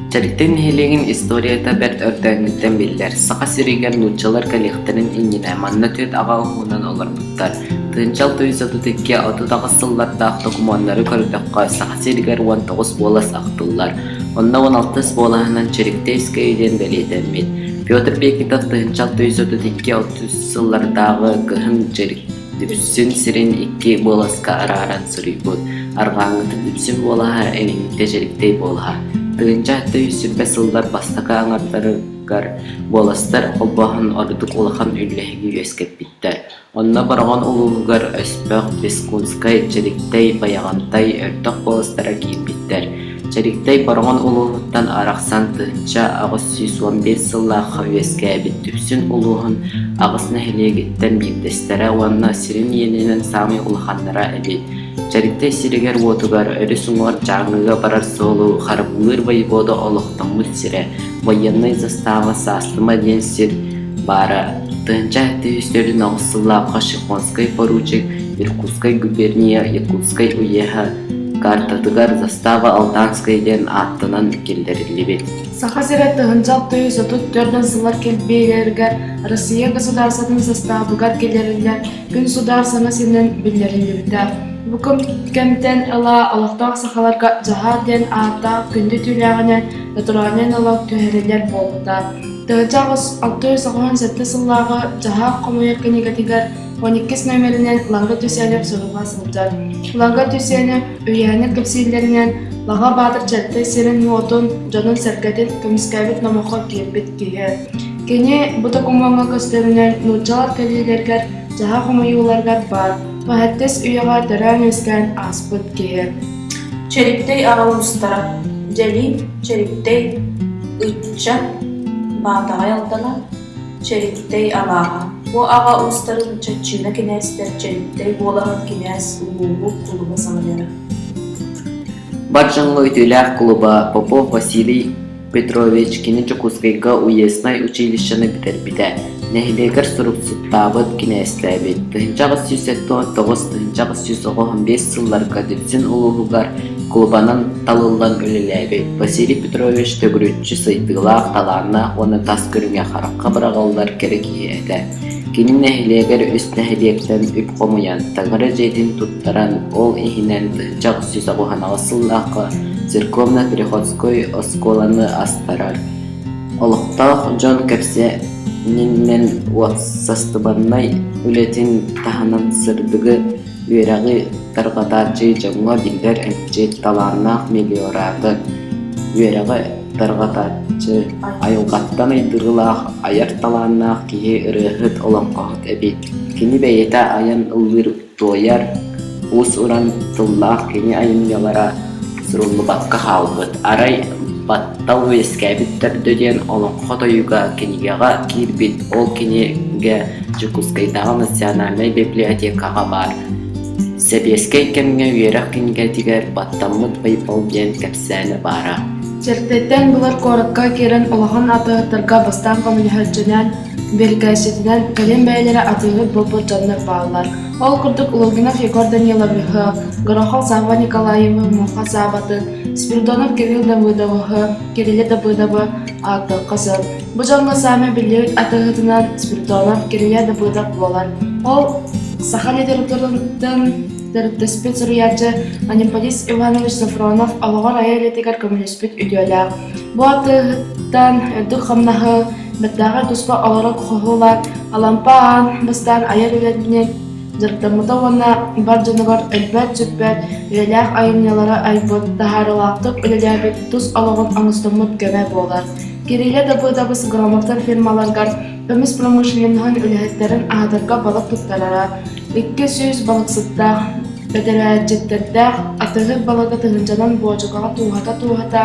Тэрилтэ нэһилиэгин историята бэрт өрдөөҥҥүттэн биллэр. Саха сиригэр нууччалар кэлиэхтэрин иннинэ манна түөрт аҕа уһуунан олорбуттар. Тыынчал тоҕус отут икки отут аҕыс сыллардаах докумуоннары көрдөххө, Саха сиригэр уон тоҕус уолас ахтыллар. Онно уон алтыс буолаһынан Чэриктэйскэй диэн бэлиэтэммит Петр Пекинтов тыһыынча алтыһыс отут икки алтыс сыллардааҕы Кыһын Чэриксин сирин икки буоласка арааран суруйбут арҕааҥҥытын үксүн буолаһа эҥиҥтэ Чэриктэй буолаһа тыһыынча алтыһыс сүппэт сыллар бастакы аҥардарыгар буоластар холбооһун ордук улахан үллэһиги үөскэппиттэр Онно Бороҕон улууһугар өспөх Бескунскай, Чэриктэй, Байаҕантай өртөх куоластара киирбиттэр. Чэриктэй Бороҕон улууһуттан арахсан тыһыча аҕыс сүүс уон биэс сыллаахха үөскээбит Дүпсүн улууһун аҕыс нэһилиэгиттэн биирдэстэрэ уонна сирин иэнинэн саамай улаханнара эбит. Чэриктэй сиригэр-уотугар өрүс уҥуор Дьааҥыга барар суолу харбыыр воевода олохтоммут сирэ. Байыаннай застава саастыма диэн сир баара тыһыынча сүүс төрүн аҕыс сыллаахха Шихонскай поручик Иркутскай губерния Якутскай уеһа картатыгар застава Алтанская диэн ааттанан киллэриллибит. Саха сирэ тыһыынча алты отут төрдөн сыллар кэлбиэлэригэр Россия государствотын заставыгар киллэриллэр Күн судаар саҥа сиринэн биллэриллибитэ. Бу кэмтэн ыла олохтоох сахаларга «Дьаһаа» диэн ааттаах күндү түүлээҕинэн натуральнай налог түһэриллэр буолбута. Тыһыынча аҕыс алты соҕуһун сэттэ сыллааҕы «Дьаһаа» хомуйар кинигэтигэр он иккис номеринэн Ланга Тюсенев суруга сылдьар. Ланга Тюсенев үһүйээнин кэпсииллэринэн Лаҕа Баатыр Чэртэй сирин-уотун, дьонун-сэргэтин көмүскээбит номоххо киирбит киһи. Кини бу докумуоҥҥа көстөрүнэн нууччалар кэлиилэригэр, дьаһах хомуйууларыгар баар мөһөттөс үйэҕэ төрөөн-үөскээн ааспыт киһи Чэриктэй аҕал устара Дьэлиим Чэриктэй ыччан Баатаҕай Алдана Чэриктэй алааһа Бу аҕа уустарын Чаччыына кинээстэр Чэриктэй буолаһын кинээс улууһу кулуба салайара Бар дьоҥҥо үтүөлээх кулуба Попов Василий Петровичкини Дьокуускайга уезднай училищены бүтэрбитэ, нэһилиэгэр суруксуттаабыт, кинээстээбит. тыһыынча аҕыс сүүс сэттис тоҕус тыһыынча аҕыс сүүс оҕо биэс сылларга Дүпсүн улууһугар кулубанан талыллан үлэлээбит. Василий Петрович төгүрүччү сайдыылаах, талааннаах уонна тас көрүҥэ харахха быраҕыллар кэрэ киһи этэ. Кини нэһилиэгэр үс нэһилиэктэн үп хомуйан, Таҥара дьиэтин туран ол иһинэн дьахсыс оҕуһанаҕас сыллаахха церковно-переходской оскуоланы астарар. Олохтоох дьон кэпсээнинэн уопсастыбаннай үлэтин таһынан сырдыгы, үөрэҕи тарҕатааччы дьоҥҥо биллэр эмчит, талааннаах мелиоратор, үөрэҕи тарҕатааччы, айылҕаттан айдырылаах, айар талааннаах киһи, ырыаһыт, олоҥхоһут эбит. Кини бэйэтэ айан ыллыыр туойар, уус-уран тыллаах кини айымньылара суруллубакка хаалбыт. Арай баттал үөскээбит төрдө диэн олоҥхо тойуга кинигэҕэ киирбит. Ол кинигэ Дьокуускайдааҕы национальнай библиотекаҕа баар. Сэбиэскэй кэмҥэ үөрэх кинигэтигэр «Баттаммыт байбал» диэн кэпсээнэ баара. Чэртэттэн былыр куоракка киирэн улахан атыыһыттарга бастаан көмөлөһөллөрүнэн бирикээсситинэн кэлин бэйэлэрэ атыыһыт буолбут дьоннор бааллар ол курдук лугинов егор даниловиһы горохов сава николаевы муха саватын спиридонов кирилл давыдовуһу кирилла давыдовы ааттыахха сөп бу дьоҥҥо саамай биллибит атыыһытынан спиридонов кирилла давыдов буолар ол саха литературатын төрүттэспит суруйааччы анемполист иванович софронов олоҕор айар идэтигэр көмөлөспүт үтүөлээх бу атыыһыттан үрдүк хамнаһы Бэртээхэй туспа олорор хоһуулаах Алампа аан бастаан айар үөрбүнэн дьарыктаммыта уонна бар дьонугар өлбөөт-сүппэт, үйэлээх айымньылара айбыт, таһаарыылаахтык үлэлээбит тус олоҕун оҥостоммут көмө буолар. Кирилэ Дабыдабыс грамотар фирмаларыгар көмүс промышленноһын үлэһиттэрин аһатарга балык туттарара, икки сүүс балыксыттаах бэтэрээччиттэрдээх атыыһыт балыга тыһыынчанан буочукаҕа тууһата-тууһата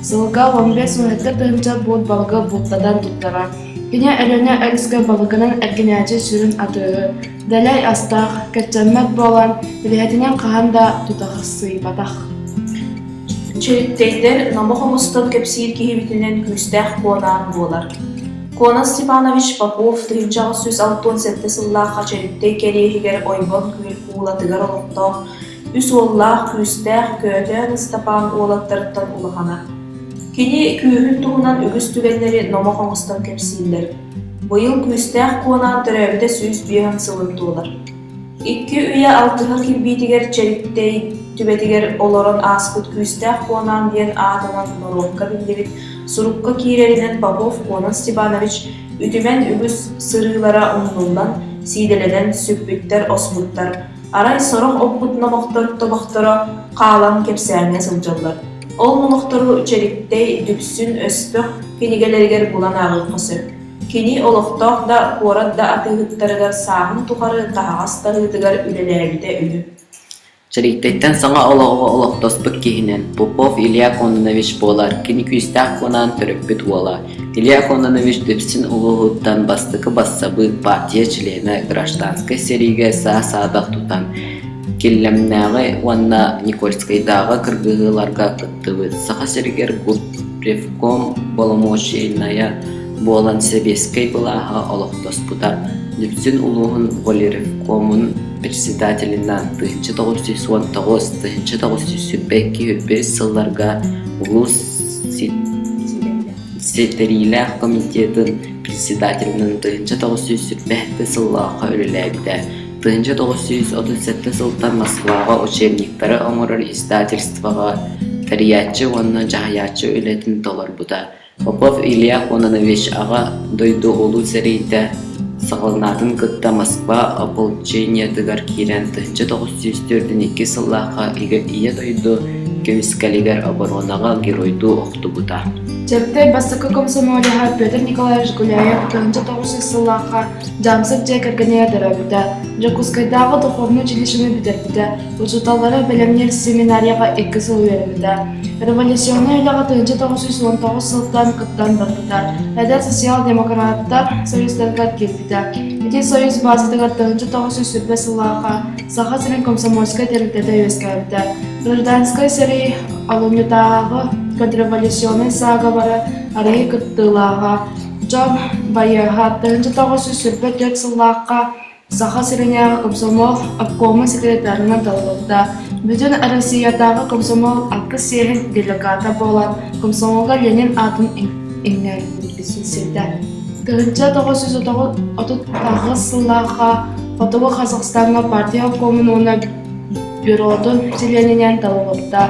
Сылга уон бэс уһуйааттар тыһыынча буут балыгы бултатан туттара. Кини Өлүөнэ өрүскэ балыгынан эргинээччи сүрүн атыыһы, дэлэй астаах, кэччэммэт буолан, бэйэтинэн хаһан да тутахсыйбатах. Чөрүктэйтэр номо хомустан кэпсиир киһибитинэн күүстээх куонаан буолар. Куонас Степанович Попов тыһыынча аҕыс сүүс алтан сэттэ сыллаахха Чөрүктэй кэриэһигэр Ойбон куул- куулатыгар олохтоох үс уоллаах, күүстээх Көтөөн Ыстапаан уолаттарыттан улахана. Кини күүһүн туһунан үгүс түгэннэри номох оҥостон кэпсииллэр. Быйыл күүстээх Куонаан төрөөбүтэ сүүс биэһэх сылын туолар. Икки үйэ алтыһа кирбиитигэр Чэриктэй түбэтигэр олорон ааспыт Күүстээх Куонаан диэн аатынан норуокка биллибит сурукка киирэринэн Попов Куонан Степанович үтүмэн үгүс сырыылара умнуллан, сиидэлэнэн сүппүттэр-оспуттар, Арай сорох оппут номохтор тобохторо хаалан кэпсээҥҥэ сылдьаллар, ол номохтору Чэриктэй Дүпсүн өспөх кинигэлэригэр булан ааҕыахха сөп. Кини олохтоох да, куорат да атыыһыттарыгар сааһын тухары таһаҕас таһыытыгар үлэлээбитэ үһү. Чэриктэйтэн саҥа олоҕу олохтоспут киһинэн Попов Илья Кононович буолар кини күүстээх кунаан төрөппүт уола Илья Кононович Дүпсүн улууһуттан бастакы бассабыык партия чилиэнэ гражданскай сэриигэ саа-саадах тутан, Киллэмнээҕи уонна Никольскайдааҕы кыргыһыыларга кыттыбыт, Саха сиригэр губпревком боломуочайынайа буолан сэбиэскэй былааһа олохтоспута, Дүпсүн улууһун волиревкомун председателинэ тыһыынча тоҕус сүүс уон тоҕус, тыһыынча тоҕус сүүс сүүрбэ икки үһүс сылларга улуус Ситэриилээх комитетын председателинэн тыһыынча тоҕус сүүс сүүрбэһэттэ сыллаахха үлэлээбитэ. тыһыынча тоҕус сүүс отут сэттэ сылтан Москваҕа учебниктары оҥорор издательствоҕа тэрийээччи уонна дьаһайааччы үлэтин толорбута. Попов Илья Кононович Аҕа дойду Улуу сэриитэ Саҕаланаатын кытта Москва ополчениетыгар киирэн тыһыынча тоҕус сүүс төрдүн икки сыллаахха ийэ дойду көмүскэлигэр оборонаҕа геройдуу охтубута. Чэркэй бастакы комсомолеһа Петр Николаевич Гуляев тыһыынча тоҕус сүүс сыллаахха Дьаамсык дьиэ кэргэнигэр төрөөбүтэ, Дьокуускайдааҕы духовнай училищены бүтэрбитэ, Учууталлара бэлэмниир семинарияҕа икки сыл үөрэммитэ, революционнай үлэҕэ тыһыынча тоҕус сүүс уон тоҕус сылтан кыттан барбыта, эдэр социал-демократтар союзтарыгар киирбитэ. Ити союз баазатыгар тыһыынча тоҕус сүүс сүүрбэ сыллааҕа Саха сирин комсомольскай тэрилтэтэ үөскээбитэ. Гражданскай сэрии алумньутааҕы контрреволюционнай саагабара арыгы кыттыылааҕа, дьон байыаһа тыһыынча тоҕус сүүс сүүрбэ төрт сыллаахха Саха сиринээҕи комсомол обкома секретарынан талылынна. Бүтүн Россиятааҕы комсомол аккыс сиэһин делегата буолан, комсомолга Ленин аатын иҥнэрбитсирдэ. Тыһынча тоҕус жүз отутаҕыс сыллаахха Хотугу Казахстаҥҥа партия обкомун уонна бюротун чилиэнинэн талылынна.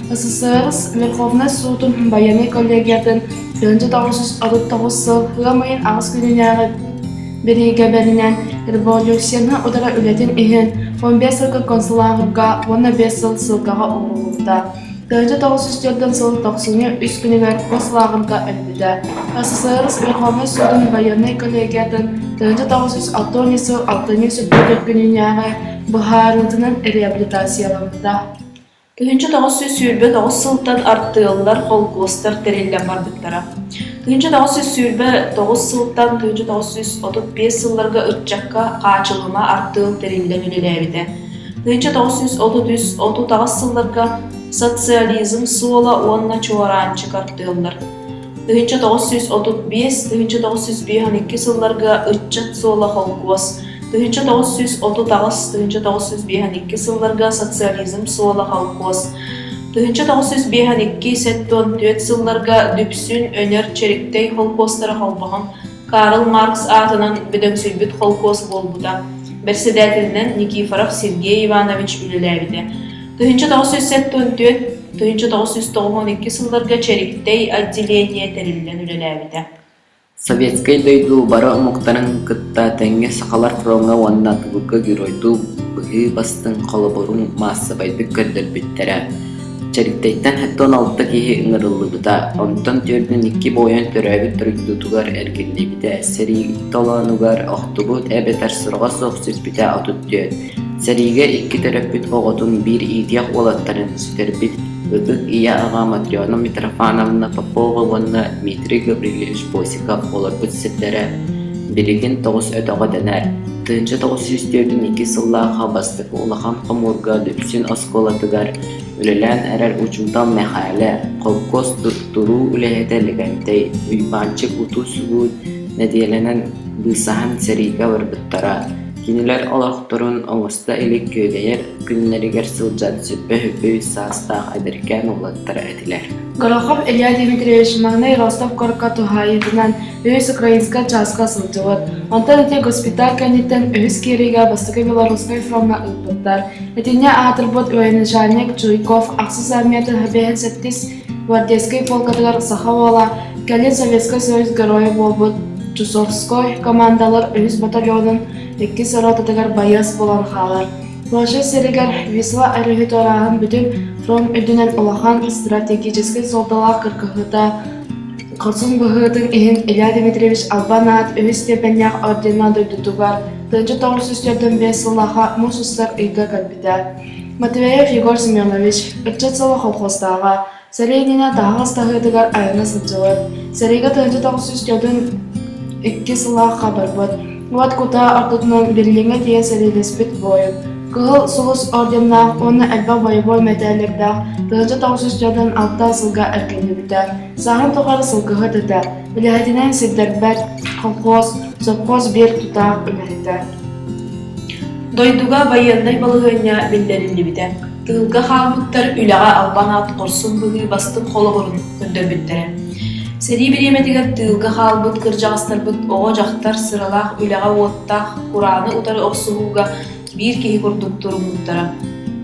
СССР Верховнай суутун байыаннай коллегиятын 1939 сыл ыам ыйын аҕыс күнүнээҕи Бириигэбэринэн революцияны утары үлэтин иһин он биэс сылга концлагерьга уонна биэс сыл ссылкаҕа оҥоһуллубута. Тыһыынча тоҕус жүз түөртүн сыл тохсунньу үс күнүгэр концлагерьга өлбүтэ. СССР Верховнай Суудун байыаннай коллегиятын тыһыынча тоҕус жүз алтыанньа сыл алтынньы сүппүт күннээҕи быһаарыытынан реабилитацияламмыта. Кыһынча тоҕус сүүс сүүрбэ тоҕус сылтан артыаллар, холкуостар тэриллэн барбыттара. Кыһынча тоҕус сүүс сүүрбэ тоҕус сылтан кыһынча тоҕус сүүс отут биэс сылларга ыччакка хаачылҕана артыал тэриллэн үлэлээбитэ. Кыһынча тоҕус сүүс отут үс отутаҕыс сылларга социализм суола уонна чуораанчык артыаллар тыһыынча тоҕус сүүс отут биэс тыһыынча тоҕус сүүс биэс он икки сылларга ыччат суола холкуос тыһыынча тоҕус сүүс отут аҕыс тыһыынча тоҕус сүүс биэс он икки сылларга социализм суола холкуос тыһыынча тоҕус сүүс биэс он икки сэттэ он түөрт сылларга Дүпсүн Өнөр Чэриктэй холкуостара холбоһон Карл Маркс аатынан бөдөҥсүйбүт холкуос буолбута бэрэссэдээтэлинэн Никифоров Сергей Иванович үлэлээбитэ тыһыынча тоҕус сүүс сэттэ он түөрт тыһыынча тоҕус сүүс тоҕус уон икки сылларга Чэриктэй отделение тэриллэн үлэлээбитэ Советскай дойду бары омуктарын кытта тэҥҥэ сахалар фроҥҥа уонна тулука геройдуу быһыы бастыҥ холобурун маассабайдык көрдөрбүттэрэ. Чэриктэйтэн сэттэ алта киһи ыҥырыллыбыта, онтон түөртүн икки буойун төрөөбүт дойдутугар эргиллибитэ, сэрии толоонугар охтубут эбэтэр сырга суох сиспитэ отут түөрт Сэриигэ икки төрөппүт оҕотун биир иитиэх уолаттарын сүтэрбит ытык ийэ аҕа Матрена Митрофановна Попова уонна Дмитрий Гаврильевич Босиков олорбут сирдэрэ билигин тоҕус өтөҕө дэнэр, тыынча тоҕус сүүс түөртүн иккис сыллаахха бастакы улахан хомуурга Дүпсүн оскуолатыгар үлэлээн эрэр учуутал Мэхээлэ, холкуос туруу үлэһитэ Лэгэнтэй, Уйбаанчык утуу-субуу нэдиэлэнэн быысаһан сэриигэ барбыттара Кинилэр олохторун оҥосто илик күөдэйэр күннэригэр сылдьар сүппэ-сүппэ үс саастаах эдэркээн уолаттара этилэр Горохов Илья Дмитриевич маҥнай Ростов-куоракка туһаайыытынан үһүс украинскай чааска сылдьыбыт. Онтон ити госпиталь кэнниттэн үһүс киириигэ Бастакы Белорусскай фроҥҥа ыыппыттар. Итиннэ аатырбыт военачальник Чуйков ахсыс армията гвардейскай полкатыгар саха уола, кэлин Советскай Союз Геройа буолбут Чусовской командалар үһүс батальонун иккис ротатыгар байыас буолан хаалар. Польша сиригэр Висла өрүһүт орааһын бүтүн фронт үрдүнэн улахан стратегический суолталаах кыргыһыыта Хорсун быһыытын иһин Илья Дмитриевич Албан аат үһүс степеннээх ордена дойдутугар тыынча тоҕус сүүс төрдөн биэс сыллааха муус устар ыйга кэлбитэ. Матвеев Егор Семенович, ыччат сыла колхозтааҕа, сэлиэнньэнэ таһаҕас таһыытыгар айана сылдьыбыт, сэриигэ тыһыынча тоҕус дьонун иккис сыллаахха барбыт, уот кутаа ортотунан Берлиҥҥэ тиийэн сэриилэспит буойун, Кыһыл Сулус орденнаах уонна элбэх бойобуой мэтээллэрдээх тыһыынча тоҕус дьонун алтан сылга эркинньирбитэ, сааһын тухары сылгыһыт этэ, үлэһитинэн сирдэрбэт колхоз, сопхуос биэр тутаах үлэһитэ. Дойдуга байыаннай балаһыанньа биллэриллибитэ, тыылга хааммыттар үлэҕэ албан аат хорсун быһыы бастыҥ холобурун көрдөрбүттэрэ. Сэрии бириэмэтигэр тыылга хаалбыт кырдьаҕастарбыт оҕо-дьахтар сыралаах үлэҕэ-уоттаах курааны утары охсуһууга биир киһи курдук туруммуттара.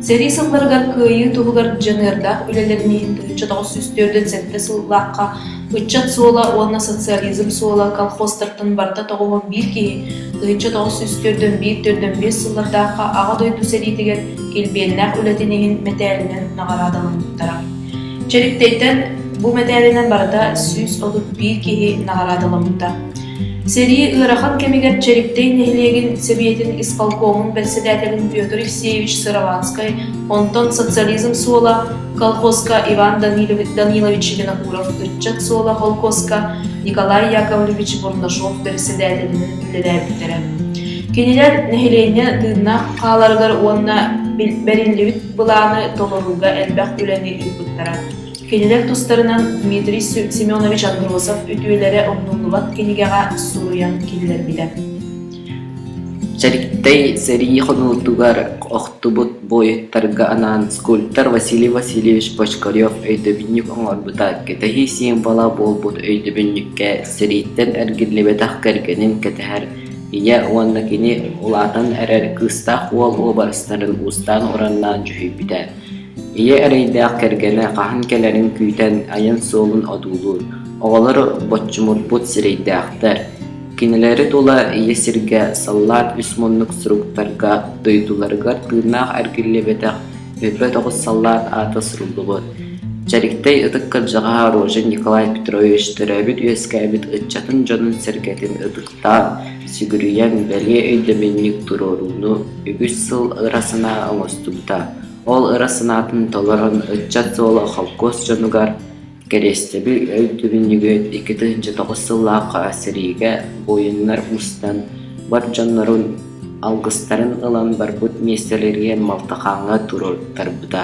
Сэрии сылларыгар кыайыы туһугар дьаныардаах үлэлэрин иһин тыһыынча тоҕус сүүс түөртүн сэттэ сыллаахха Ыччат суола уонна социализм суола колхозтартан барыта тоҕуһун биир киһи тыһычча тоҕус сүүс төрдөн биир төрдөн биэс сыллардаахха Аҕа дойду сэриитигэр килбиэннээх үлэтин иһин мэтээлинэн наҕараадаламмыттара. Чэриктэйтэн бу мэтээлинэн барыта сүүс отут биир киһи наҕараадаламмыттар. Сэрии ыарахан кэмигэр Чэриктэй нэһилиэгин Сэбиэтин исполкомун бэрэссэдээтэлин Петр Евсеевич Сыроватскай, онтон социализм суола колхозка Иван Данилович Винокуров, ыччат суола холкуоска Николай Яковлевич Бурнашов бэрэссэдээтэлинэн үлэлээбиттэрэ. Кинилэр нэһилиэнньэ тыыннаах хааларыгар уонна бэриллибит былааны толорууга элбэх үлэни ыыппыттара. Кинилэр тустарынан Дмитрий Семенович Андросов үтүөлэрэ умнуллубат кинигэҕэ суруйан киллэрбитэ. Чэриктэй сэрии хонуутугар охтубут буойуттарга анаан скульптор Василий Васильевич Бочкарев өйдөбүнньүк оҥорбута кэтэһии символа буолбут өйдөбүнньүккэ сэрииттэн эргиллибэтэх кэргэнин кэтэһэр ийэ уонна кини улаатан эрэр кыыстаах уол уобарастарын уустаан ураннаан дьүһүйбүтэ. Ийэ эрэйдээх кэргэнэ хаһан кэлэрин күүтэн айан суолун одуулуур. Оҕолор боччумурбут сирэйдээхтэр. Кинилэри тула ийэ сиргэ саллаат үс муннук суруктарга, дойдуларыгар тыыннаах эргиллибэтэх өлбөт оҕус саллаат аата суруллубут. Чэриктэй ытык кырдьаҕаһа Рожин Николай Петрович төрөөбүт-үөскээбит ыччатын дьонун-сэргэтин ытыктаан, сүгүрүйэн, бэлиэ өйдөбүнньүк туруорууну үгүс сыл ыра санаа оҥостубута. Ол ыра санаатын толорон ыччат суола холкуос дьонугар, Кэриэстэби өйдөбүл ньүгүөт икки тыһыынча тоҕус сыллаахха сэриигэ буойуннар мустан бар дьоннорун алгыстарын ылан барбыт миэстэлэригэр малтахааҥҥа туруортарбыта